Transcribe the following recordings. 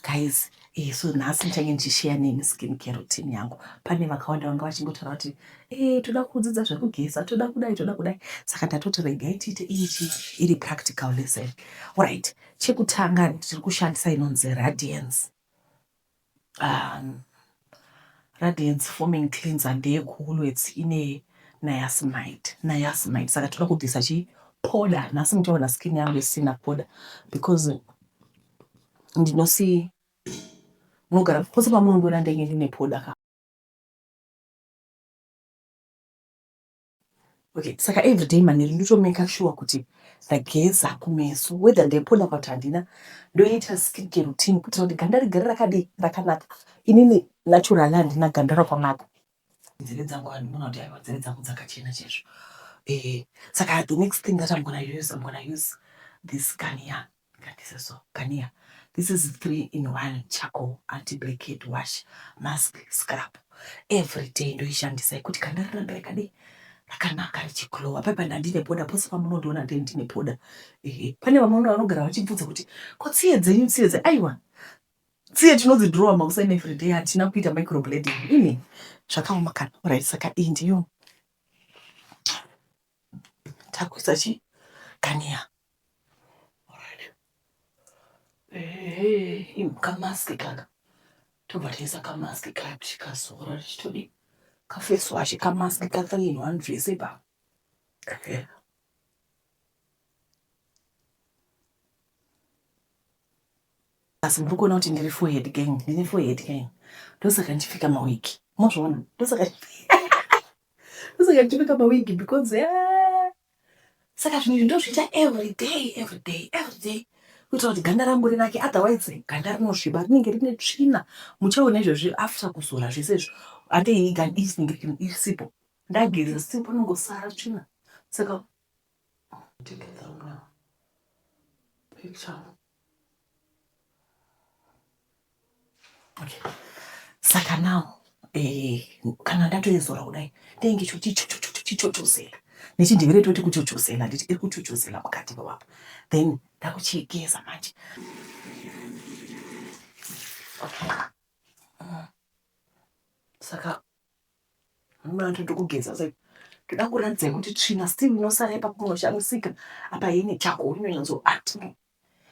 guys eh, so nhasi ndichange ndichisheya nemi skin care routine yangu pane vakawanda vanga vachingotaura kuti eh, toda kudzidza zvekugeza toda kudai toda kudai saka ndatoti regai tiite ichi iri practical lesson right chekutanga tiri kushandisa inonzi radiance um, Radiance foaming cleanser ndeye kuWoolworths ine niacinamide niacinamide saka toda kubvisa chii powder nhasi muchaona skin yangu isina powder because ndinosi munogara pose pamunondiona ndenge ndine powder ka Okay, saka everyday manheru ndotomeka shuwa kuti ndageza kumeso whether ndaipoda kana kuti handina ndoita skincare routine kuitira kuti ganda rigare rakadii rakanaka inini naturally handina ganda rakanaka nzeve dzangu vanhu vona kuti aiwa nzeve dzangu dzakachena chaizvo eh, saka the next thing that i'm gonna use i'm gonna use this gania Ngatiseso kania this is three in one charcoal anti blackhead wash mask scrub everyday ndoishandisa ikuti kana raramba yakadii rakanaka richiglowa paipa ndandine poda pose pamunondiona ndee ndine poda ehe pane vamwe vanogara vachibvunza kuti ko tsiye dzenyu tsiye dze aiwa tsiye tinodzidrowa makuseni everyday hatina kuita microblading ini zvakaoma kana orit saka iyi ndiyo Takuisa chi kania. Eh, im kamask kaka. Tobva taisa kamask kaya kuti kazora richitodi. Kafesi washe kamask kaka in one dress ipa. Eh. Asi muri kuona kuti ndiri forehead gang, ndine forehead gang. Ndosaka ndichipfeka mawiki. Mozviona? Ndosaka ndichipfeka Saka ndichipfeka mawigi because eh, saka zvinhu izvi ndozviita everyday everyday everyday kuitira kuti ganda rangu rinake otherwise ganda rinosviba rinenge rine tsvina muchaona izvozvi after kuzora zvese izvo ande iyi ganda iri rinenge risipo ndageza still panongosara tsvina saka take it down now picture Okay. Saka now eh, kana ndatoizora kudai ndenge chichochozela nechindevere toti kuchochozela nditi iri kuchochozela mukati mewapa then ndakuchigeza manje okay. uh, saka Mama atoda kugeza zve. Toda kuratidza kuti tsvina still inosara ipapo kunoshamisika. Apa yene chako unonyatso ati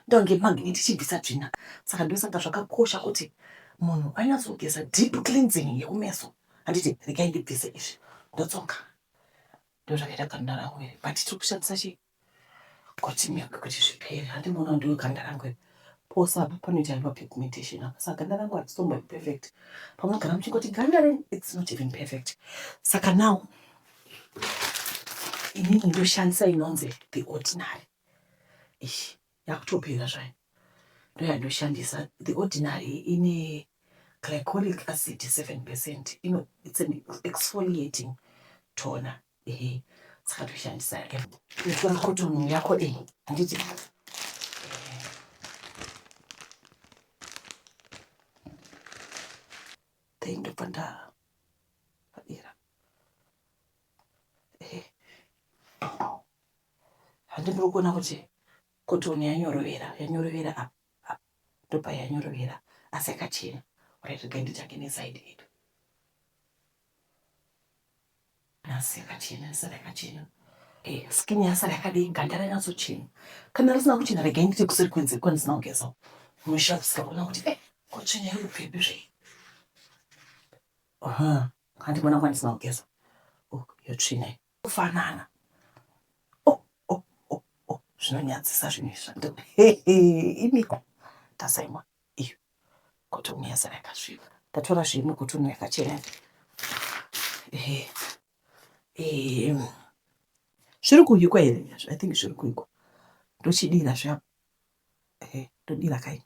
ndonge magnet ichibvisa tsvina. Saka ndosaka zvakakosha kuti munhu anyatso kugeza deep cleansing yekumeso. Handiti regai ndibvise izvi. Ndotsoka. Ndozvakaita ganda rangu iri. But tiri kushandisa chii? Continue kuti zvipere. Handi muona ndiwe ganda rangu iri. Pose apa panoita hema pigmentation apa. Saka ganda rangu harisitombo perfect. Pamunogara muchingoti ganda renyu it's not even perfect. Saka now inini ndoshandisa inonzi the ordinary. Ishi yakutopera zvayo. Ndoyandoshandisa the ordinary ine glycolic acid 7%. Ino it's an exfoliating toner. Ehe, saka toshandisa yake. Tora cotton yako iyi. Handiti. Dai ndobva nda padera. Ehe. Handi muri kuona kuti cotton yanyorovera, yanyorovera apa. apa. Ndobva yanyorovera asi yakachena. Ora regai nditsvage neside yedu. Nhasi yakachena, yasara yakachena. Eh, skin yasara yakadii, ganda ranyatsochena. Kana risina kuchena regai ndiite kuseri kwenze kwandisina kugeza uko. Munoshavisika kuona kuti eh, kochena iri kubvepi zvei. Aha, handi mwana kwandisina kugeza. Oh, yotsvina iyi. Kufanana. Oh, oh, oh, oh, zvinonyadzisa zvinhu izvi. Hehe, imiko. Tasaimwa. Iyo. Kotoni yazara yakasviba. Ndatora zveimwe kotoni yakachena. Ehe. Ehe. Zviri kuhikwa here? I think zviri kuhikwa. Ndochidira zvapo. Ehe, ndodira kai.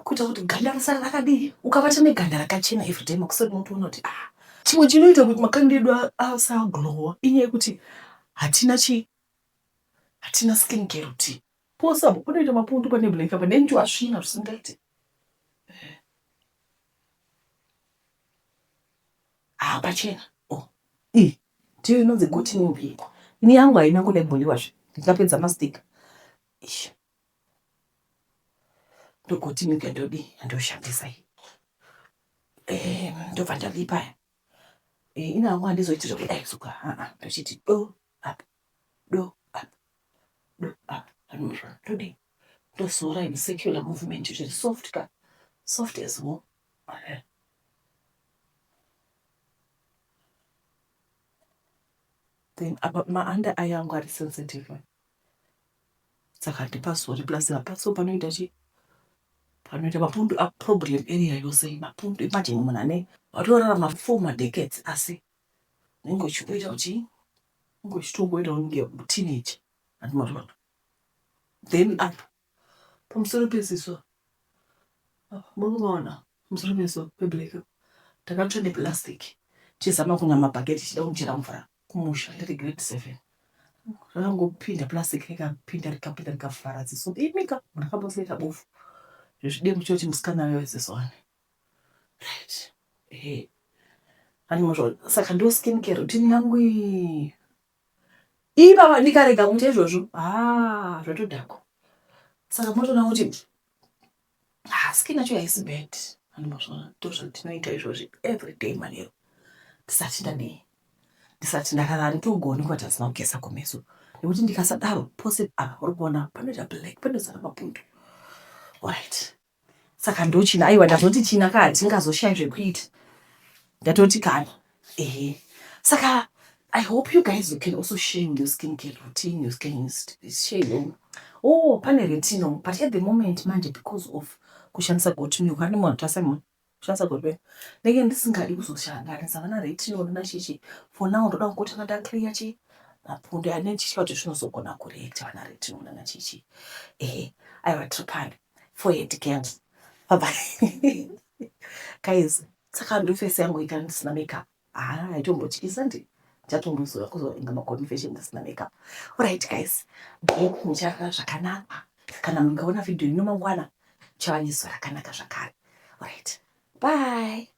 Kuita kuti ganda risara rakadii? Ukabata neganda rakachena every day makuseni unotoona kuti ah chimwe chinoita kuti makanda edu asaglowa inyaya yekuti hatina chi hatina skin care routine. Pose apo panoita mapundu pane blank apa nenjuva asvina zvisingaite. Ah, pachena. Oh. Eh, ndiyo inonzi goti nembepo. Ini yangu haina kuda kuboliwa zve. Ndikapedza mastika. Ish. Ndogoti mika ndodi ndoshandisa iyi. Eh, ndobva ndalipa. Eh, ina yangu handizoiti zvekudai suka. Ah, ah, ndochiti do apa. do up do up anozva todii tozoora in secular movement zviri soft ka soft as wo eh. then apa maanda aya angu ari sensitive saka ndipasori plus hapaso panoita chii panoita mapundu aproblem area yose mapundu imajini munhu ane watorarama four madecades asi unenge uchimboita kuti Ungochitongoitawo kunge teenager hanzi mazuva ano. Then apa pamusoro peziso apa muri kumaona pamusoro peziso peblack apa ndakatsva neplastic tichizama kunwa mabhaketi tichida kunchera mvura kumusha ndiri grade seven. Rakangopinda plastic rikapinda rikapinda rikavhara ziso imika ndakamboseka bofu. Zvezvidemu choti musikana weziso wani. Right. Hey. Anozvo saka ndo skin care routine yangu iyi. Ibaba ndikarega kuita izvozvo. Ah, zvatodhako. Saka motoona kuti ah, skin yacho haisi bad. Anozvona ndozvatinoita izvozvi every day manero. Tisati ndadii. Tisati ndakarara togoni kuti asina kugeza kumeso. Nekuti ndikasadaro pose apa uri kuona panoita black panozara mapundu. Alright. saka ndochina aiwa ndazoti china kaa tingazoshaya zvekuita ndatoti kana ehe saka i hope you guys you can also share your skin care routine your skin is share oh pane retino but at the moment manje because of kushandisa gotimilk anematasema Shansa Gorbe, ndenge ndisingadi kuzoshanganisa vana Retinoni naChichi. For now ndoda kungotanga ndaclear chi mapundu ane ndichitya kuti zvinozogona kureacta vana Retinoni naChichi. Ehe, aiwa tiri pano. Forehead gang. Bye bye. Guys, saka ndofesi yangu ita ndisina makeup. Haa aitombotyisa ndi ndichatombozoya kuzova inga maconfession asina makeup alright guys then mucharara zvakanaka kana mungaona video ino mangwana muchava nezuva rakanaka zvakare alright bye